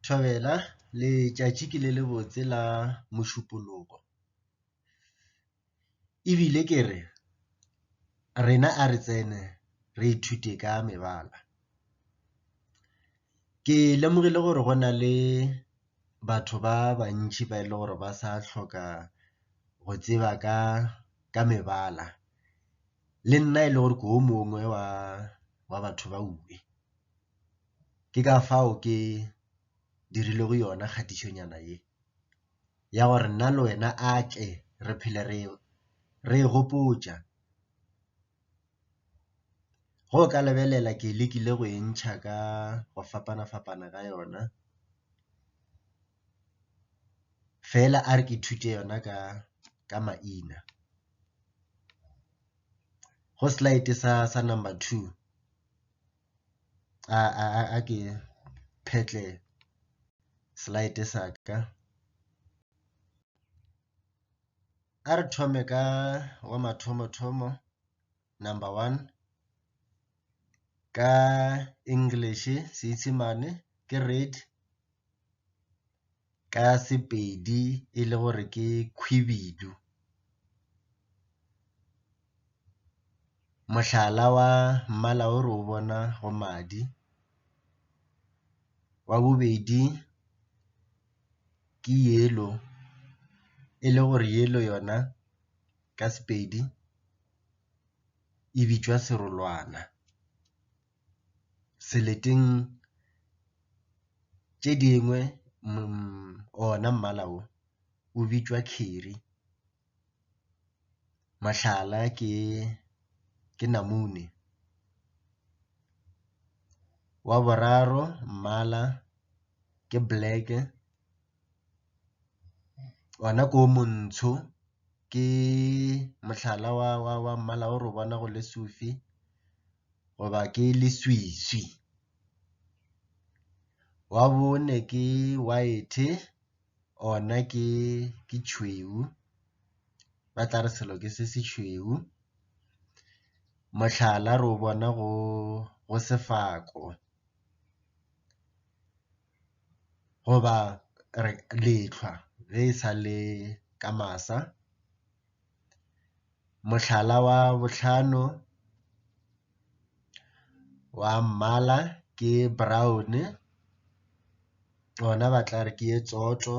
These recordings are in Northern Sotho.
Thobela, letšatši ke le lebotse la Mošupologo. E bile ke re, rena a re tsene re ithute ka mebala. Ke lemogile gore go na le batho ba bantši ba e le gore ba sa tlhoka go tseba ka ka mebala, le nna e le gore ke o mongwe wa wa batho ba . Ke ka fao ke dirilego yona kgatišonyana ye, ya gore nna le wena a tle re phele re re e gopotša. Ge o ka lebelela ke lekile go e ntšha ka go fapana-fapana ga yona, fela a re ke ithute yona ka ka maina. Go slide sa sa number two. a ke phetle slide sa ka. A re thome ka wa mathomo-thomo, number one, ka English, Seesemane ke read. ka Sepedi e le gore ke khwibidu. Mohlala wa mmala o re o bona go madi. Wa bobedi ke yellow e le gore yellow yona ka Sepedi e bitšwa serolwana. seleteng tše dingwe ona mmala wo o bitšwa curry, mohlala ke namune. Wa boraro mmala ke black-e. Ona ke o montsho, ke mohlala wa mmala o re o bona go le sufi goba ke leswiswi. Wa bone ke white ona ke tšhweu, ba tla re selo ke se se tšhweu. Mohlala re o bona go sefako. goba re lehlwa ge e sa le ka masa. Mohlala wa bohlano wa mmala ke brown gona ba tla re ke e tsoto.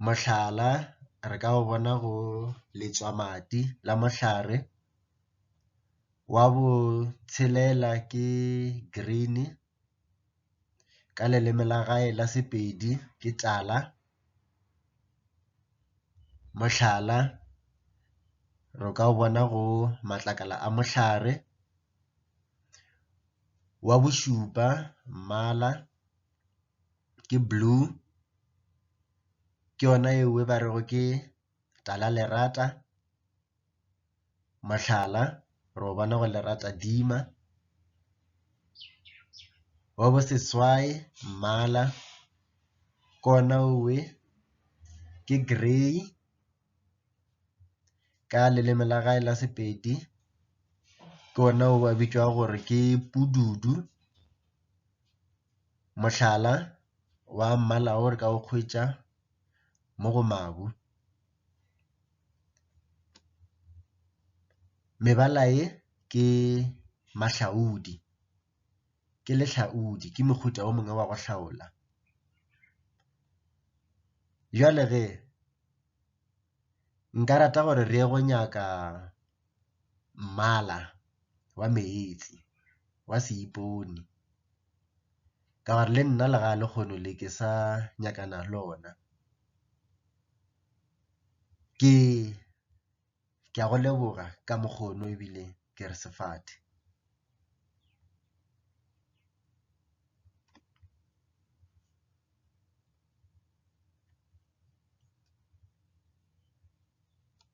Mohlala re ka o bona go letswamadi la mohlare. Wa botshelela ke green. ka leleme la gae la Sepedi ke tala. Mohlala, re ka o bona go matlakala a mohlare. Wa bošupa mmala ke blue, ke yona e nngwe ba rego ke talalerata. Mohlala, re o bona go leratadima. Wa boseswai, mmala, ke ona owe, ke grey ka leleme la gae la Sepedi. Ke ona o a bitšwago gore ke pududu. Mohlala wa mmala o re ka o hwetša mo go mabu. Mebala ye ke mahlaodi, ke lehlaodi, ke mohuta o mongwe wa go hlaola. Bjale ge nka rata gore re ye go nyaka. mmala wa meetse wa seipone ka gore le nna lega lehono le ke sa nyakana le lona. Ke ke a go leboga ka mokgona ebile ke re sefate.